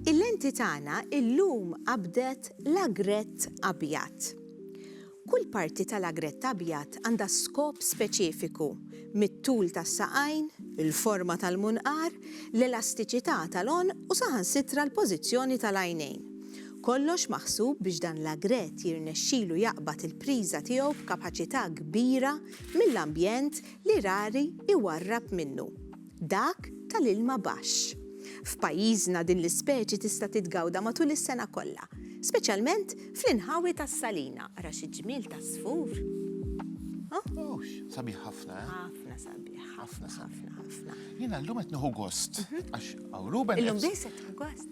Il-lenti tagħna illum qabdet l-agrett abjad. Kull parti tal-agrett abjad għandha skop speċifiku, mit-tul tas-saqajn, il-forma tal-munqar, l-elastiċità tal-għonq u saħansitra l-pożizzjoni tal-għajnejn. Kollox maħsub biex dan l-agrett jirnexxilu jaqbad il-priża tiegħu b'kapaċità kbira mill-ambjent li rari jwarrab minnu, dak tal-ilma baxx. F'pajjiżna din l-ispeċi tista' titgawda matul is-sena kollha, speċjalment fl-inħawi tas-Salina. Ara xi ġmiel ta' żfur! Ohh! Sabiħ ħafna, eh? Ħafna sabiħ, ħafna, ħafna, ħafna. Jiena llum qed nieħu gost, għax hawn Ruben qed. Illum biss qed tieħu gost?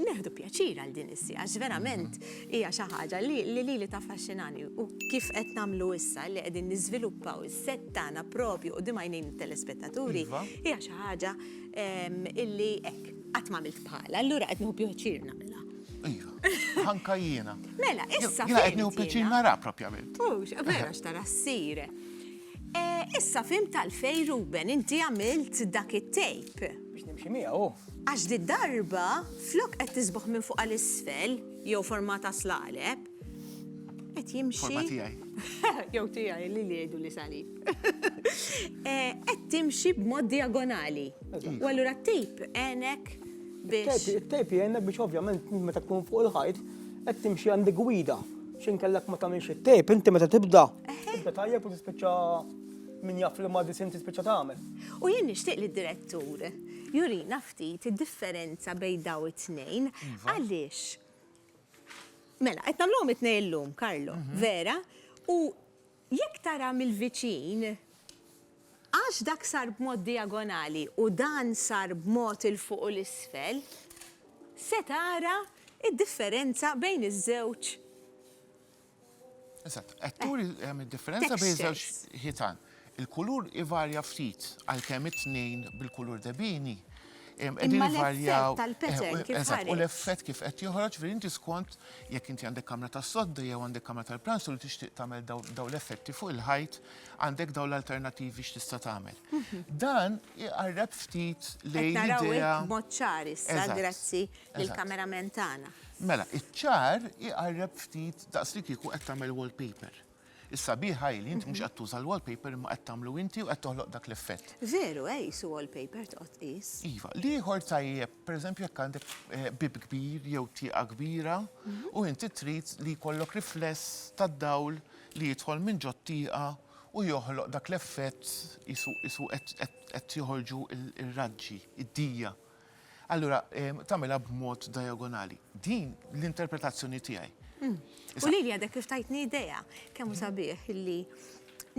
Neħdu pjaċir għal din is-siegħa għax verament hija xi ħaġa li lili taffaxxinani u kif qed nagħmlu issa li qegħdin niżviluppaw is-sett tagħna proprju quddiem għajnejn it-telespettaturi iva. hija xi ħaġa ehm, illi hekk qatt m'għamilt bħalha, allura qed nieħu pjaċir nagħmilha. Iva, anka jiena. Mela, issa. Jiena qed nieħu pjaċir nara propjament. Mhux, vera x'tara ssir. Eh, issa fim tal-fej Ruben, inti għamilt dak it-tape. Biex nimxi miegħu. Għax did-darba, flok qed tisboħ minn fuq għal isfel, jew forma ta' slaleb, qed jimxi. Forma tiegħi. Jew tiegħi li li jgħidu li salib. Eh, qed timxi b'mod diagonali. U allura t-tejp għenek biex. It-tejp għenek biex ovvjament meta tkun fuq il-ħajt qed timxi għandi gwida. X'in kellek ma tagħmilx it-tejp, inti meta tibda. Tibda tajjeb u tispiċċa min jaf li ma disin tispiċċa tagħmel. U jien nixtieq li d-direttur Jurina ftit id-differenza bejn dawn it-tnejn għaliex Mela, qed nagħmluhom it-tnejn illum, Karlo, mhm. vera? U jekk tara mill-viċin, għax dak sar b'mod diagonali u dan sar b'mod il-fuq u l-isfel, se tara id-differenza bejn iż-żewġ Eżatt, qed turi hemm id-differenza bejn żewġ ħitan. Il-kulur ivarja ftit għalkemm it-tnejn bil-kulur debini. Imma l-effett tal-pattern eh, kif U l-effett kif qed joħroġ veri inti skont jekk inti għandek kamra tas-sodda jew għandek kamra tal-pranzu li tixtieq tagħmel daw l-effetti fuq il-ħajt għandek daw l-alternativi x'tista' tagħmel. Mhm. Dan iqarreb ftit lejn l-idea. Mod ċar issa, grazzi. lill-kamerament tagħna. Mela, iċ-ċar iqarreb ftit daqs li kieku qed tagħmel wallpaper. Is-sabiħ hi li inti mhux qed tuża l-wallpaper imma qed tagħmlu inti u qed toħloq dak l-effett. Veru, eh, qisu wallpaper toqgħod tqis. Iva, l-ieħor tajjeb, pereżempju jekk għandek eh, bib kbir jew tieqa kbira u inti trid li jkollok rifless tad-dawl li jidħol minn ġod tieqa u joħloq dak l-effett isu isu qed qed- qed joħorġu il- ir-raġġi, id-dija. Allura tagħmilha b'mod diagonali. Din l-interpretazzjoni tiegħi. Hmm. U li għadek kif tajtni idea, kemm sabiħ li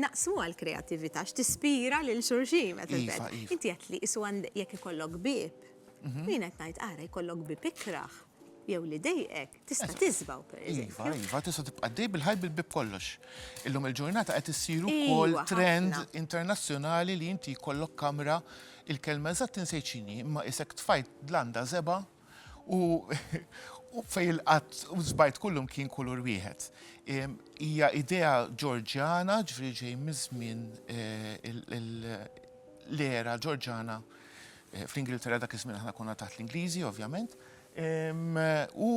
naqsmu għal kreativita x'tispira lil xurxin meta iva, iva. Inti qed li isu jekk ikollok bib. Mhm. Min qed ngħid ara jkollok bib ikraħ jew li dejqek Tista' tiżbaw, pereżempju. Iva, iva, tista' tibqa' għaddej bil-ħajt bil-bieb kollox. Illum il-ġurnata qed issir ukoll trend internazzjonali li inti jkollok kamra il-kelma eżatt insejt x'inhi, imma qisek tfajt dlanda żebgħa u fejn il-qatt u żbajt kullum kien kulur wieħed. Hija idea Ġorġjana, ġifieri ġej miż-żmien l-era Ġorġjana fl-Ingilterra dak iż-żmien aħna konna taħt l-Ingliżi ovvjament, u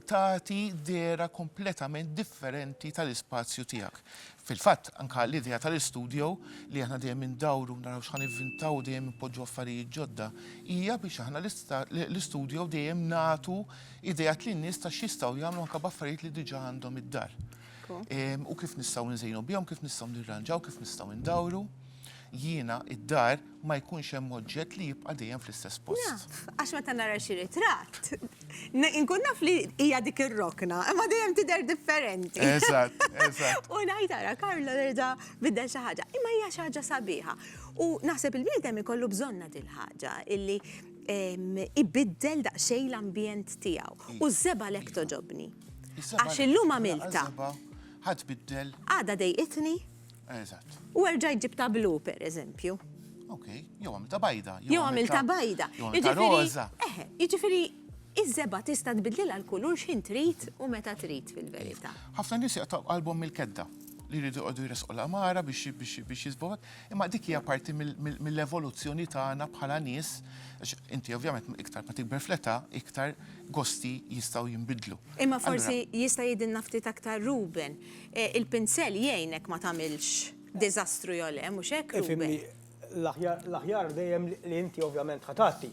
tagħti dehra kompletament differenti tal-ispazju tiegħek. Fil-fatt, anke l-idea tal-istudio, li aħna dejjem indawru naraw x'ħa nivvintaw u dejjem inpoġġu affarijiet ġodda, hija biex aħna l-istudio dejjem nagħtu ideat lin-nies ta' x'jistgħu jagħmlu anke b'affarijiet li diġà għandhom id-dar. U kif nistgħu nżejnu bihom, kif nistgħu nirranġaw, kif nistgħu ndawru. Jiena id-dar. ma jkunx hemm oġġett li jibqa' dejjem fl-istess post. Naf, għax meta nara xi ritratt, inkun naf li hija dik ir-rokna, imma dejjem tidher differenti. Eżatt, eżatt. U ngħid ara Carlo reġa' biddel xi ħaġa. Imma hija xi ħaġa sabiħa. U naħseb il-bniedem ikollu bżonnha dil-ħaġa illi ibiddel daqsxejn l-ambjent tiegħu. U s-seba' għalhekk togħġobni. Għax illum għamiltha. Ħa tbiddel. Għada dejqitni. Eżatt. U erġa' jġib ta' blu, per eżempju. Ok, jew għamil ta' bajda. Jew għamil ta' bajda. Jiġifieri, iż-żeba tista' tbidlilha l-kulur x'ħin trid u meta trid fil-verità. Ħafna nies jaqtgħu qalbhom mill-kedda li jridu jqogħdu jresqu l-qamara biex jisbu imma dik hija parti mill-evoluzzjoni tagħna bħala nies, għax inti ovvjament iktar ma tikber fl-età, iktar gosti jistgħu jinbidlu. Imma forsi jista' jgħidilna ftit aktar Ruben, Il-pinsell jgħinek ma tagħmilx diżastru jew le, mhux hekk, Ruben? Ifhimni, l-aħjar dejjem li inti ovvjament ħa tgħatti.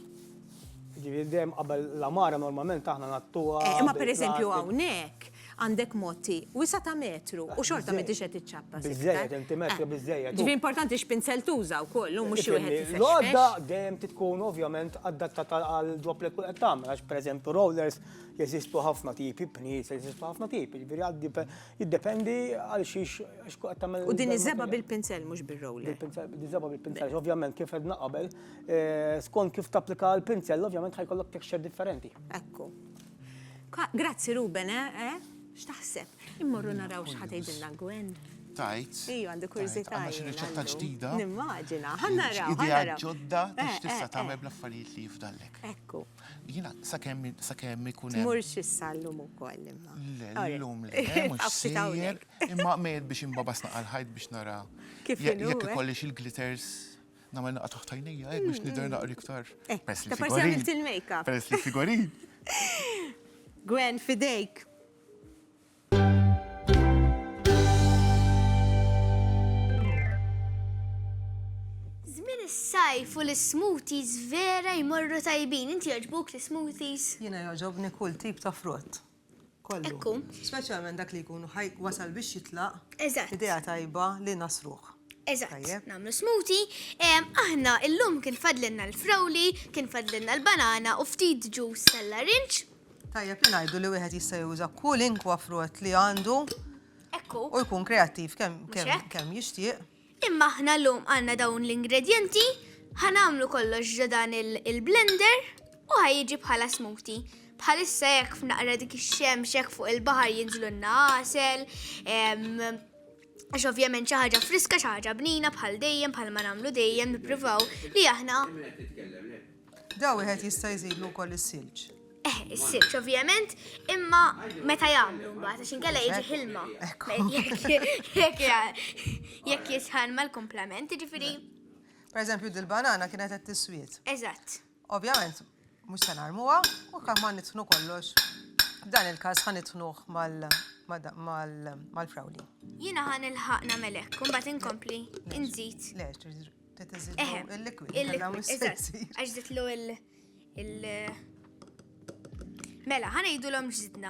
Jiġifieri dejjem qabel l-għamara normalment aħna ngħattuha bil-plastik. Imma pereżempju hawnhekk għandek motti wisa' ta' metru u xorta m'intix qed iċċappas iktar. Biżżejjed, inti metra biżżejjed. Jiġifieri importanti x'pinsell tuża wkoll, hu mhux xi wieħed ifexfex. L-għodda dejjem trid tkun ovvjament adattata għal ġob li tkun qed tagħmel għax pereżempju rollers Jeżistu ħafna tipi bniet, jeżistu ħafna tipi, ġifieri għad jiddependi għal xiex għax kuq qed tagħmel. U din iż-żeba bil-pinzell mhux bir-roller. Bil-pinzell, din iż-żeba bil-pinzell, ovvjament kif edna qabel, eh, skont kif tapplika l-pinzell, ovvjament ħajkollok texture differenti. Ekku. Grazzi Ruben, eh, eh? X'taħseb? Immorru naraw x'ħad tgħidilna Gwen. Tajt. Iju, għandu kurzita. Għandu xi riċetta ġdida. Nimmaġina, ħanna raw. Idea ġodda, tista' tagħmel bl-affarijiet li jifdallek. Ekku. Jiena sakemm sakemm ikun hemm. Tmurx issa llum ukoll imma. Le, llum le, mhux sejjer, imma mejjed biex imbabas naqal ħajt biex nara. Kif jekk eh? ikollix il-glitters nagħmel naqgħa taħt għajnejja hekk biex nidher naqri iktar. Eh, Peress li figorin. il-makeup. Peress li figorin. Gwen, fidejk. Żmien is-sajf u l-smoothies vera jmorru tajbin. Inti jogħġbuk l-smoothies? Jiena jogħġobni kull tip ta' frott. Ekku. Speċjalment dak li jkunu ħaj wasal biex jitlaq. Eżatt. Idea tajba li nasruħ. Eżatt, namlu smuti. Aħna illum kien fadlinna l-frawli, kien fadlinna l-banana u ftit ġus tal-larinċ. Tajjeb li ngħidu li wieħed jista' juża kwalinkwa frott li għandu u jkun kreattiv kemm jixtieq. Imma aħna llum għandna dawn l-ingredjenti, ħa nagħmlu kollox ġo dan il-blender u ħa jiġi bħala smoothie. Bħalissa hekk f'naqra dik ix-xemx hekk fuq il-baħar jinżlulna għasel, għax ovvjament xi ħaġa friska, xi ħaġa bnina bħal dejjem bħalma nagħmlu dejjem nippruvaw li aħna. Da wieħed jista' jżidlu wkoll is-silġ. Eh, is-silġ ovvjament, imma meta jagħmlu mbagħad għax inkella jiġi ħilma. Jekk jisħan mal-komplement, ġifieri. Per eżempju, dil-banana kienet qed tiswiet. Eżatt. Ovvjament, mhux se narmuha u kemm ma nitħnu kollox. Dan il-każ ħan nitħnuh mal-frawli. Jiena ħan il-ħaqna melek, kumbat inkompli, inżid. Eħe, il-liquid, għax zitlu il- Mela, ħana jidu l-om ġzidna.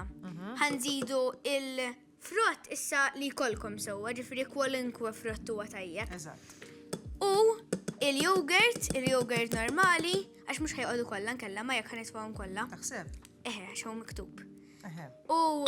ħan zidu il-frott issa li kolkom sewa, ġifri kwalunkwe frott huwa tajjeb. U il-jogurt, il-jogurt normali, għax mux ħajqodu kollha nkella ma jekk ħanitfawhom kollha. Taħseb? Eħe, għax miktub. U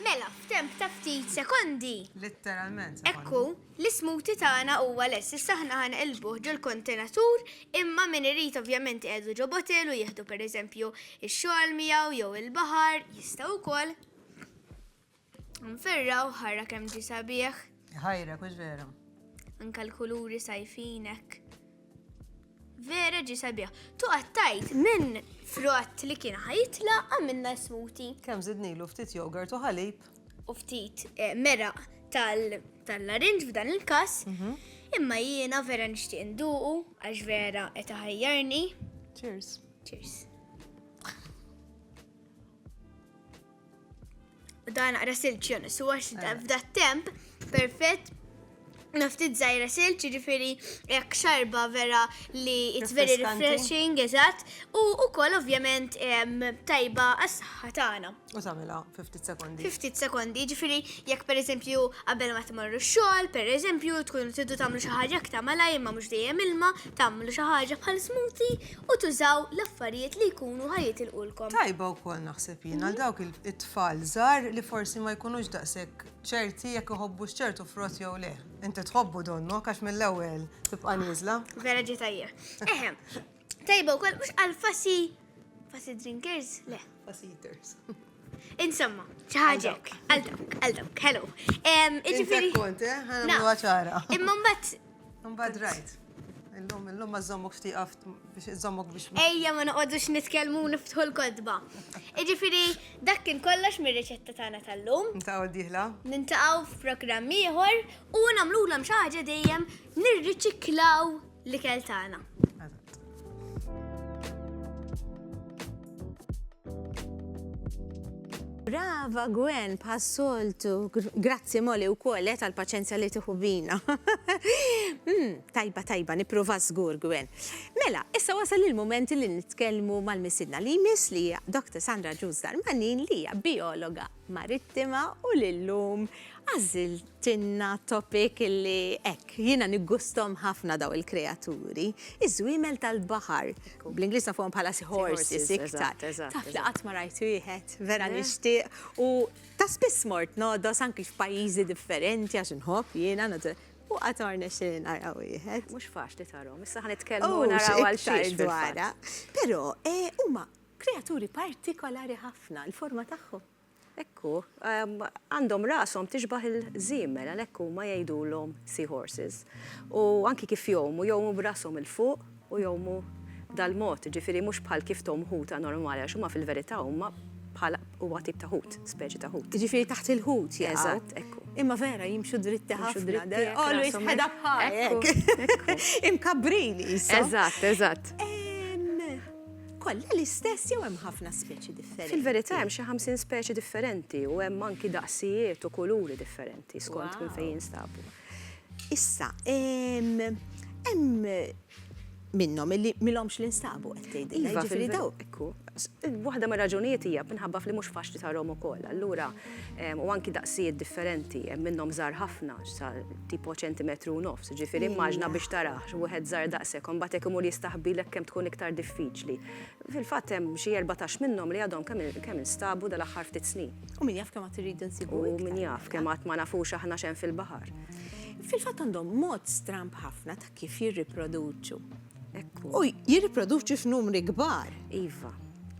Mela, f'temp ta' ftit sekondi. Litteralment sekondi. Ekku, l-ismuti tagħna huwa lest. Issa aħna ħa nqilbuh ġol-kontenatur, imma min irid ovvjament iqiegħdu ġo bottle u jieħdu pereżempju x-xogħol miegħu jew il-baħar jista' wkoll. Nferrawh, ara kemm ġie sabiħ. Iħajrek, hux veru? Anke l-kuluri sajfin hekk. Vera ġi sabiħ. Tu għattajt minn frott li kien ħajitla għamilna smuti. Kem zidnilu ftit jogurt u ħalib. U ftit eh, mera tal-larinġ f'dan il-kas. Mhm. Imma jiena vera nixtieq nduqu għax vera qed ħajjarni. Cheers. Cheers. Da naqra silċ jon su għax eh. f'da temp perfett naftit zaħira silċ ġifiri jek xarba vera li it's very refreshing, eżat, u u kol ovvjament tajba għas-saxħa tagħna. U samila 50 sekondi. 50 sekondi, ġifiri jek per eżempju qabel ma tmorru xogħol, per eżempju tkunu tiddu tagħmlu xi ħaġa aktar malaj imma mhux dejjem ilma, tagħmlu xi ħaġa bħal smoothie u tużaw l-affarijiet li jkunu ħa jitilqulkom. Tajba wkoll naħseb jien għal dawk it-tfal żgħar li forsi ma jkunux daqshekk ċerti jekk iħobbu x'ċertu frott jew le. Inti tħobbu donnu għax mill-ewwel tibqa' nieżla. Vera ġi tajjeb. Eħem, tajba wkoll mhux għal fasi fasi drinkers le. Fasi eaters. Insomma, ċaħġa hekk. Għal dawk, għal dawk, hello. Em, Intek Iġifieri. kont, eh? Ħana Naf. mluha ċara. Imma mbagħad Mbagħad rajt. Illum, illum ma żommok ftit qaft biex iżommok biex ma. Ejja ma noqgħodux nitkellmu u niftħu l-kodba. Iġifieri dak kien kollox mir-riċetta tagħna tal-lum. Inta u diħla. Nintaqgħu f'programm ieħor u nagħmlulhom xi ħaġa dejjem nirriċiklaw l-ikel tagħna. Brava Gwen, passoltu, grazzi moli u kol, eh, tal-paċenzja li tiħu bina. Hmm, tajba, tajba, niprofa zgur Gwen. Mela, issa wasal il-moment li nitkellmu mal-misidna li jmiss li Dr. Sandra Ġuż Darmanin li hija biologa Marittima u li llum għażiltilna topic li hekk, jiena niggusthom ħafna dawn il-kreaturi, iż-żwiemel tal-baħar. Bl-Ingliż nafuhom bħala sea horses iktar. Taf li qatt ma rajt wieħed, vera nixtieq u ta' spiss mort nogħdos anki f'pajjiżi differenti għax inħobb jiena naturalment u qatt ma rnexxieli nara wieħed. Mhux faċli tarahom, issa ħa nitkellmu naraw għal xiex dwarha. Però huma Kreaturi partikolari ħafna, il-forma tagħhom. Hekk hu. Għandhom rashom tixbah il-żiemel, għalhekk huma jgħidulhom seahorses. U anki kif jgħumu, jgħumu b'rashom 'il fuq u jgħumu dal-mod, jiġifieri mhux bħal kif tgħum ħuta normali, għax huma fil-verità huma bħala, huwa tip ta' ħut, speċi ta' ħut. Jiġifieri taħt il-ħut jaqgħu. Eżatt, hekk hu. Imma vera, jimxu dritti ħafna, they're always head up high, hekk. Imkabbrin qishom. Eżatt, eżatt. Kollha l-istess jew hemm ħafna speċi differenti? Fil-verità hemm xi ħamsin speċi differenti u hemm anki daqsijiet u kuluri differenti skont minn fejn jinstabu. Issa, hemm minnhom illi milhomx li nstabu qed tgħidilna. Iva, fil-verità. Waħda mir-raġunijiet hija minħabba f'li mhux faċli tarhom ukoll. Allura u anki daqsijiet differenti, hemm minnhom żgħar ħafna, sa tipo ċentimetru u nofs, ġifieri immaġna biex tarah wieħed żgħar daqshekk, imbagħad jekk imur jistaħbilek kemm tkun iktar diffiċli. Fil-fatt hemm xi erbatax minnhom li għadhom kemm instabu dal-aħħar ftit snin. U min jaf kemm għad irridu nsibu. U min jaf kemm għad ma nafux aħna x'hemm fil-baħar. Fil-fatt għandhom mod stramb ħafna ta' kif jirriproduċu. U jirriproduċu f'numri kbar. Iva,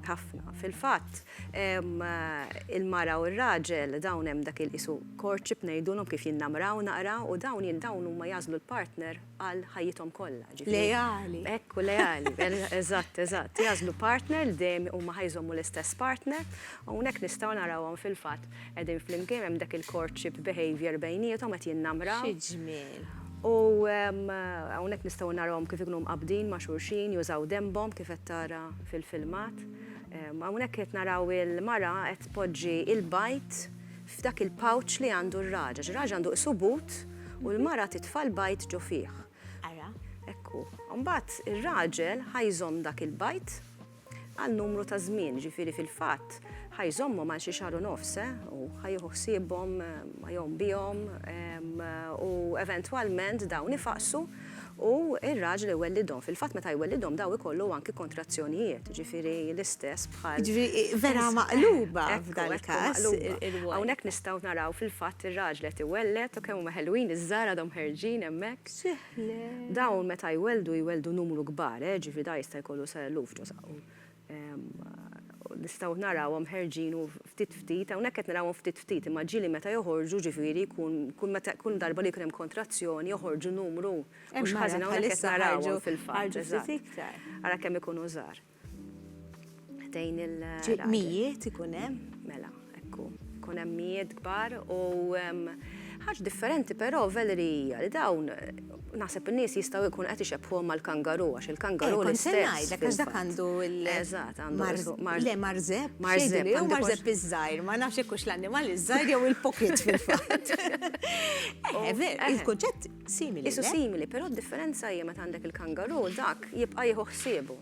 ħafna. Fil-fatt, Il-mara u r-raġel dawn hemm dak il qisu courtship ngħidulhom kif jinnamraw naqra u dawn dawn huma jagħżlu l-partner għal ħajjithom kollha. Leali. Hekk u leali. Eżatt, eżatt. Jagħżlu partner li dejjem huma ħa jżommu l-istess partner. Hawnhekk nistgħu narawhom fil-fatt qegħdin flimkien hemm dak il-courtship behaviour bejniethom qed jinnamraw. Xi ġmiel. U hawnhekk nistgħu narawhom kif ikunu mqabbdin ma' xulxin, jużaw denbhom kif qed tara fil-filmat. Hawnhekk qed naraw il-mara qed tpoġġi l-bajd f'dak il-pouch li għandu r-raġaġ. Ir-raġaġ għandu qisu but u l-mara titfa' l-bajd ġo fih. Ara. Ekku. Mbagħad ir-raġel ħa jżomm dak il-bajd għal numru ta' żmien, ġifieri fil-fatt ħa jżommhom għal xi xahar u nofs, u ħa jieħu ħsiebhom, ħa jgħum bihom u eventwalment dawn ifaqsu. u r-raġel iwellidhom. Fil-fatt meta jwellidhom daw ikollu anki kontrazzjonijiet, jiġifieri l-istess bħal. Jiġifieri vera maqluba f'dan il-każ ir-rwol. Hawnhekk nistgħu naraw fil-fatt ir-raġel qed iwelled u kemm huma ħelwin iż-żgħar għadhom ħerġin hemmhekk. Dawn meta jwelldu jwelldu numru kbar, jiġifieri dan jista' jkollu sa eluf ġo saqajhom. nistgħu narawhom ħerġin u ftit ftit, hawnhekk qed narawhom ftit ftit, imma ġieli meta joħorġu, ġifieri jkun kull meta kull darba li jkun hemm kontrazzjoni joħorġu numru. Mhux ħażin hawnhekk qed narawhom fil-fatt. Ara kemm ikunu żgħar. Ħdejn il. Mijiet ikun hemm? Mela. Ekku, ikun hemm mijiet kbar u ħaġa differenti però Valerie hija li dawn naħseb in-nies jistgħu jkunu qed ixebbħuhom mal-kangaru għax il-kangaru l-istess. Kont se ngħidlek għax dak għandu l Eżatt, għandu Le marżeb, x'jgħiduli hu marżeb iż-żgħir, ma nafx jekk hux l-annimal iż-żgħir jew il-pocket fil-fatt. Eħe veru, il-kunċett simili. Qisu simili, però d-differenza hija meta għandek il-kangaru dak jibqa' jieħu ħsiebu.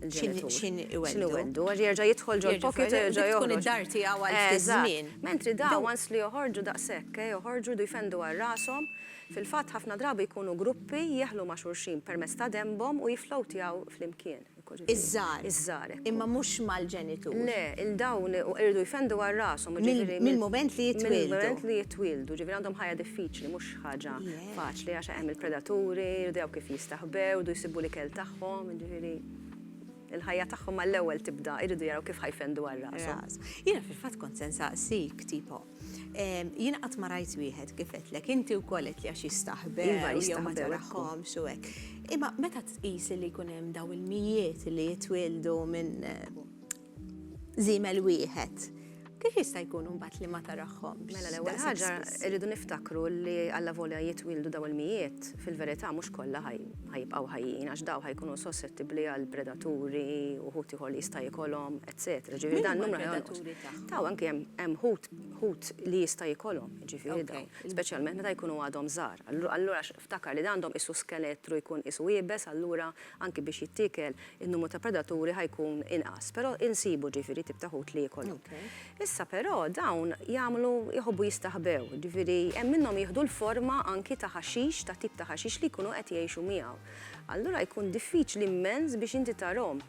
il-ġenitur. Xin iweddu. Għax jerġa' jidħol ġol pocket u jerġa' joħroġ. Tkun id-dar tiegħu għal ftit żmien. Mentri dawn once li joħorġu daqshekk, joħorġu jdu jfendu għal rashom, fil-fatt ħafna drabi jkunu gruppi jeħlu ma' xulxin permezz ta' denbhom u jifflowtjaw flimkien. Iż-żgħar. Iż-żgħar. Imma mhux mal-ġenitur. Le, il dawn iridu jfendu għal rashom. Mill-mument li jitwieldu. Mill-mument li jitwieldu. Ġifieri għandhom ħajja diffiċli, mhux ħaġa. Faċli għax hemm il-predaturi, jridu jgħu kif jistaħbew, jridu jsibu l-ikel tagħhom, jiġifieri il-ħajja tagħhom mal-ewwel tibda, jridu jaraw kif ħa jfendu għal rashom. Jiena fil-fatt kont se nsaqsik tipo, jiena qatt ma rajt wieħed kif għedtlek, inti wkoll għedt li għax jistaħbew, iva jistaħbew, ma tarahomx u hekk. Imma meta tqis li jkun hemm dawn il-mijiet li jitwieldu minn, żiemel wieħed, kif jista' jkun imbagħad li ma tarahhomx? Mela l-ewwel ħaġa rridu niftakru li allavolja jitwieldu dawn il-mijiet, fil-verità mhux kollha ħajibqgħu ħajjin għax dawn ħajkunu sossettibbli għal predaturi, uħud ieħor li jista' jikolhom, etċetera. Ġifieri dan in-numru ħa jonqos. Dawn anki hemm ħut li jista' jikolhom, jiġifieri dawn, speċjalment meta jkunu għadhom żgħar. Allura Ftakar li għandhom qisu skelettru jkun qisu iebes allura anki biex jittiekel in-numru ta' predaturi ħa jkun inqas. Però insibu ġifieri tip ta' ħut li jikolhom. Issa però dawn jagħmlu jħobbu jistaħbew, ġifieri hemm minnhom jieħdu l-forma anki ta' ħaxix ta' tip ta' ħaxix li jkunu qed jgħixu miegħu. Allura jkun diffiċli immens biex inti tarhom.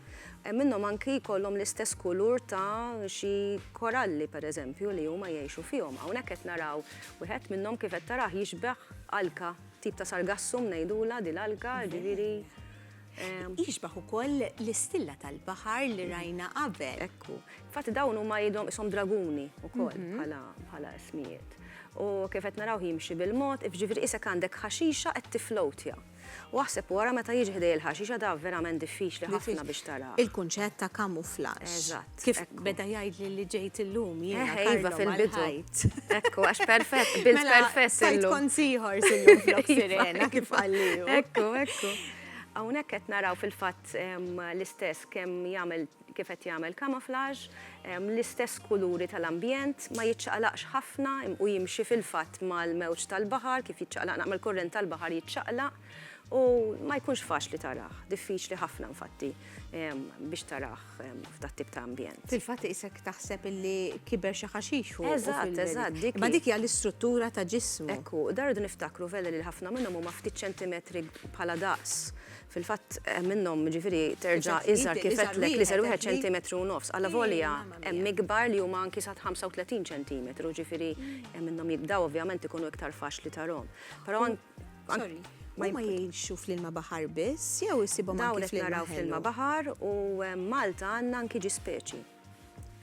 Hemm minnhom anki jkollhom l-istess kulur ta' xi koralli pereżempju li huma jgħixu fihom. Hawnhekk qed naraw wieħed minnhom kif qed tarah jixbeh Alka, tip ta' sargassum ngħidulha din l-alka, ġifieri. Jixbah ukoll l-istilla tal-baħar li rajna qabel. Ekku. Infatti dawn huma jidhom ishom draguni ukoll mhm. bħala ismijiet. U kif qed naraw jimxi bil-mod, ġifieri isek għandek ħaxixa qed tiflowtja. U aħseb wara meta jiġi ħdejja l-ħaxixa da verament diffiċli ħafna biex tara. Il-kunċett ta' kamuflaġġ. Eżatt. Kif beda jgħidli li ġejt illum jiena. Eh, iva fil-bidu. Ekku, għax perfett, bil mela, perfett. Sajt kont siħor sillum flok iva. sirena kif għalli. Ekku, ekku. Hawnhekk qed naraw fil-fatt l-istess kemm jagħmel kif qed jagħmel camouflage, l-istess kuluri tal-ambjent, ma jiċċaqlaqx ħafna u jimxi fil-fatt mal-mewġ tal-baħar kif jiċċaqlaq naqra mal-kurrent tal-baħar jiċċaqlaq u ma jkunx faċli tarah, diffiċli ħafna infatti biex tarah f'dat-tip ta' ambjent. Fil-fatt isek taħseb illi kiber xi ħaxix fuq. Eżatt, eżatt. Ma dik hija l-istruttura ta' ġismu. Ekku, dardu niftakru vele li ħafna minnhom huma ftit ċentimetri bħala daqs Fil-fatt hemm minnhom jiġifieri terġa' iżgħar kif għedtlek l-iżgħar wieħed ċentimetru u nofs. Alla volja hemm ikbar li huma anki sa 35 ċentimetru, jiġifieri hemm minnhom dawn ovvjament ikunu iktar faċli tarahom. Però Sorry, huma jgħixu fl-ilma baħar biss jew issibhom anki fl-ilma ħelu? Dawn qed naraw fl-ilma baħar u Malta għandna anki ġispeċi.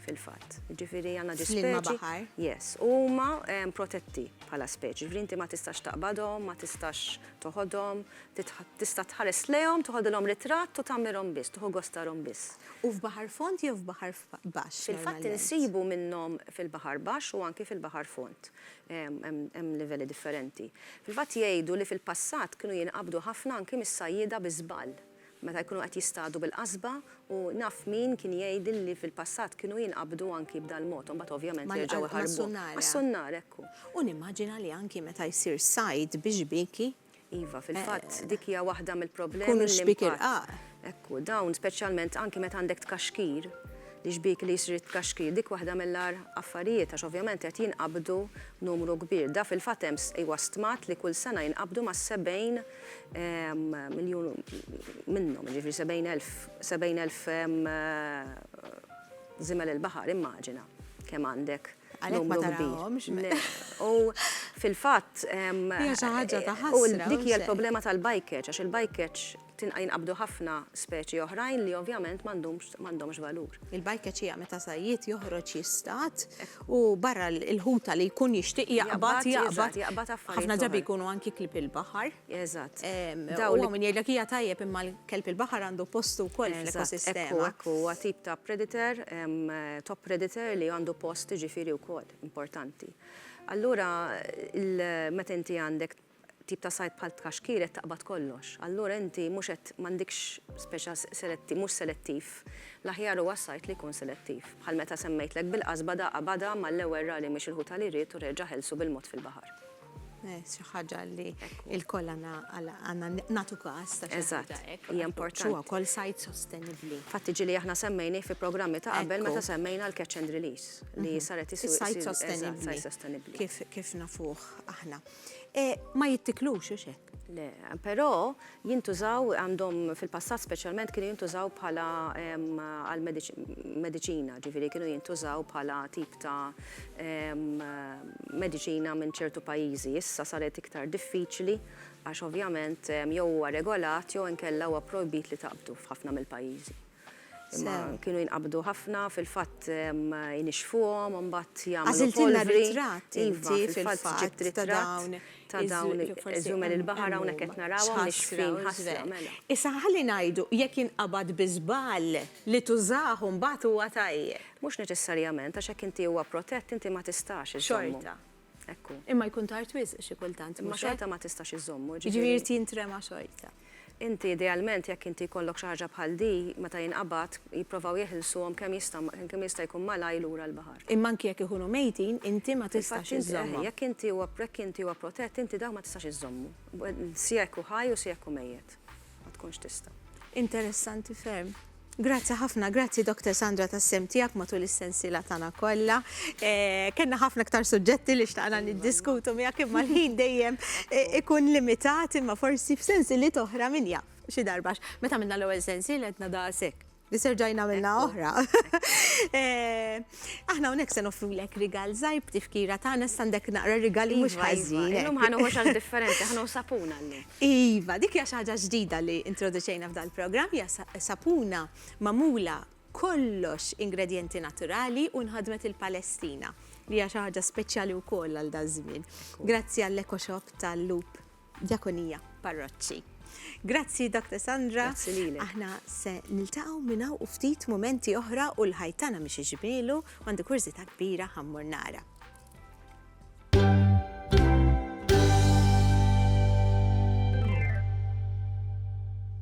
fil-fatt. Jiġifieri għandna ġi speċi. Fl-ilma baħar. Yes. U huma protetti bħala speċi. Jiġifieri inti ma tistax taqbadhom, ma tistax toħodhom, tista' tħares lejhom, toħodilhom ritratt u tagħmirhom biss, tuħu gostarhom biss. U f'baħar fond jew f'baħar baxx? Fil-fatt insibu minnhom fil-baħar baxx u anki fil-baħar fond. Hemm livelli differenti. Fil-fatt jgħidu li fil-passat kienu jinqabdu ħafna anki mis-sajjieda bi żball. meta jkunu qed jistadu bil-qasba u naf min kien jgħidli li fil-passat kienu jinqabdu anki b'dal-mod u mbagħad ovvjament jerġgħu jħarbuhom. Mas-sunnara, ekku. U nimmaġina li anki meta jsir sajd bi xbieki. Iva, fil-fatt dik hija waħda mill-problemi li. Ikunu xbieki rqaq. Ekku, dawn speċjalment anki meta għandek tkaxkir, li xbiek li jsir it-tkaxkir, dik waħda mill-agħar affarijiet għax ovvjament qed jinqabdu numru kbir. Da fil-fatt hemm, iwa, stmat li kull sena jinqabdu mas-70. miljun minnhom, ġifri 70,000 zimel il-baħar, immaġina kemm għandek. Għalhekk ma tarahomx. U fil-fatt. Hija xi ħaġa ta' ħadd. U dik hija l-problema tal-bajkeġ, għax il-bajkeġ tinqa' jinqabdu ħafna speċi oħrajn li ovvjament m'għandhomx valur. Il-bajkeġ hija meta sajjied joħroġ jistad u barra l-ħuta li jkun jixtieq jaqbad jaqbad ħafna drabi jkunu anki klieb il-baħar. Eżatt. Dawn li min jgħidlek hija tajjeb imma l-kelb il-baħar għandu postu wkoll fl-ekosistema. Ekku, huwa tip ta' predator, top predator li għandu post ġifieri wkoll importanti. Allura meta inti għandek tip ta' sajd bħal t-tkaxkir qed taqbad kollox. Allura inti mhux qed, m'għandikx speċa selettiv, mhux selettiv. L-aħjar huwa s-sajd li jkun selettiv. Bħal meta semmejtlek bil-qasba da qabadha mal-ewwel ra li mhix il-ħuta li ried u reġa' ħelsu bil-mod fil-baħar. Eh, xi ħaġa li lkoll għandna għandna nagħtu każ ta' xi ħaġa hekk. Hija importanti. Huwa wkoll sajd sostenibbli. Fatt iġi li aħna semmejnih fi programmi ta' qabel meta semmejna l-catch and release li mhm. saret is-sajd sostenibbli. Kif nafuh aħna. E, ma jittiklux, u xek. Le, però jintużaw għandhom fil-passat speċjalment kienu jintużaw bħala għal medicina, ġifieri kienu jintużaw bħala tip ta' medicina minn ċertu pajjiżi. Issa saret iktar diffiċli għax ovvjament jew huwa regolat jew inkella huwa projbit li taqbdu f'ħafna mill-pajjiżi. Imma kienu jinqabdu ħafna, fil-fatt inixfuhom u mbagħad jagħmlu. Għażiltilna ritratt inti fil-fatt ġibt ritratt ta' dawn iż-żumel il-baħar hawnhekk qed narawhom nixfin ħasra. Issa ħalli ngħidu jekk jinqabad bi żball li tużah u mbagħad huwa tajjeb. Mhux neċessarjament għax jekk inti huwa protett inti ma tistax iżżommu. Xorta. Ekku. Imma jkun tard wisq xi kultant. Imma xorta ma tistax iżżommu, ġifieri. Jiġifieri irid jintrema xorta. Inti idealment jekk inti jkollok xi ħaġa bħal di, meta jinqabad, jipprovaw jeħilsuhom kemm jista' kemm jista' jkun malajr lura l-baħar. Imma anki jekk ikunu mejtin, inti ma tistax iżżommhom. Infatti, jekk inti huwa jekk inti huwa protett, inti dawk ma tistax iżżommu. Sia jekk hu ħaj u sia jekk hu mejjet. Ma tkunx tista'. Interessanti ferm. Grazzi ħafna, grazzi Dr. Sandra tas-sem tiegħek matul is-sensiela tagħna kollha. Eh, kenna ħafna ktar suġġetti li xtaqna niddiskutu miegħek imma l-ħin dejjem eh, ikun limitat imma forsi f'sensiliet oħra min jaf xi darbax. Meta minna l-ewwel sensiel qedna daqshekk. Niserġaj namilna oħra. Eh, aħna unek se nofru lek rigal zajb tifkira ta' għana standek naqra rigali mux iva, iva. ħazin. Illum ħanu ħoċan differenti, ħanu sapuna l Iva, dik hija ħaġa ġdida li introduċejna f'dal program hija sapuna mamula kollox ingredienti naturali u nħadmet il-Palestina li hija xi ħaġa speċjali wkoll għal daż-żmien. Grazzi għall-Eco Shop tal-Loop Djakonija, Parroċċi. Grazzi Dr. Sandra. Grazzi lilek. Aħna se niltaqgħu minn hawn u ftit mumenti oħra u l-ħajtana mhix iġmielu għandu kurżità kbira ħammur nara.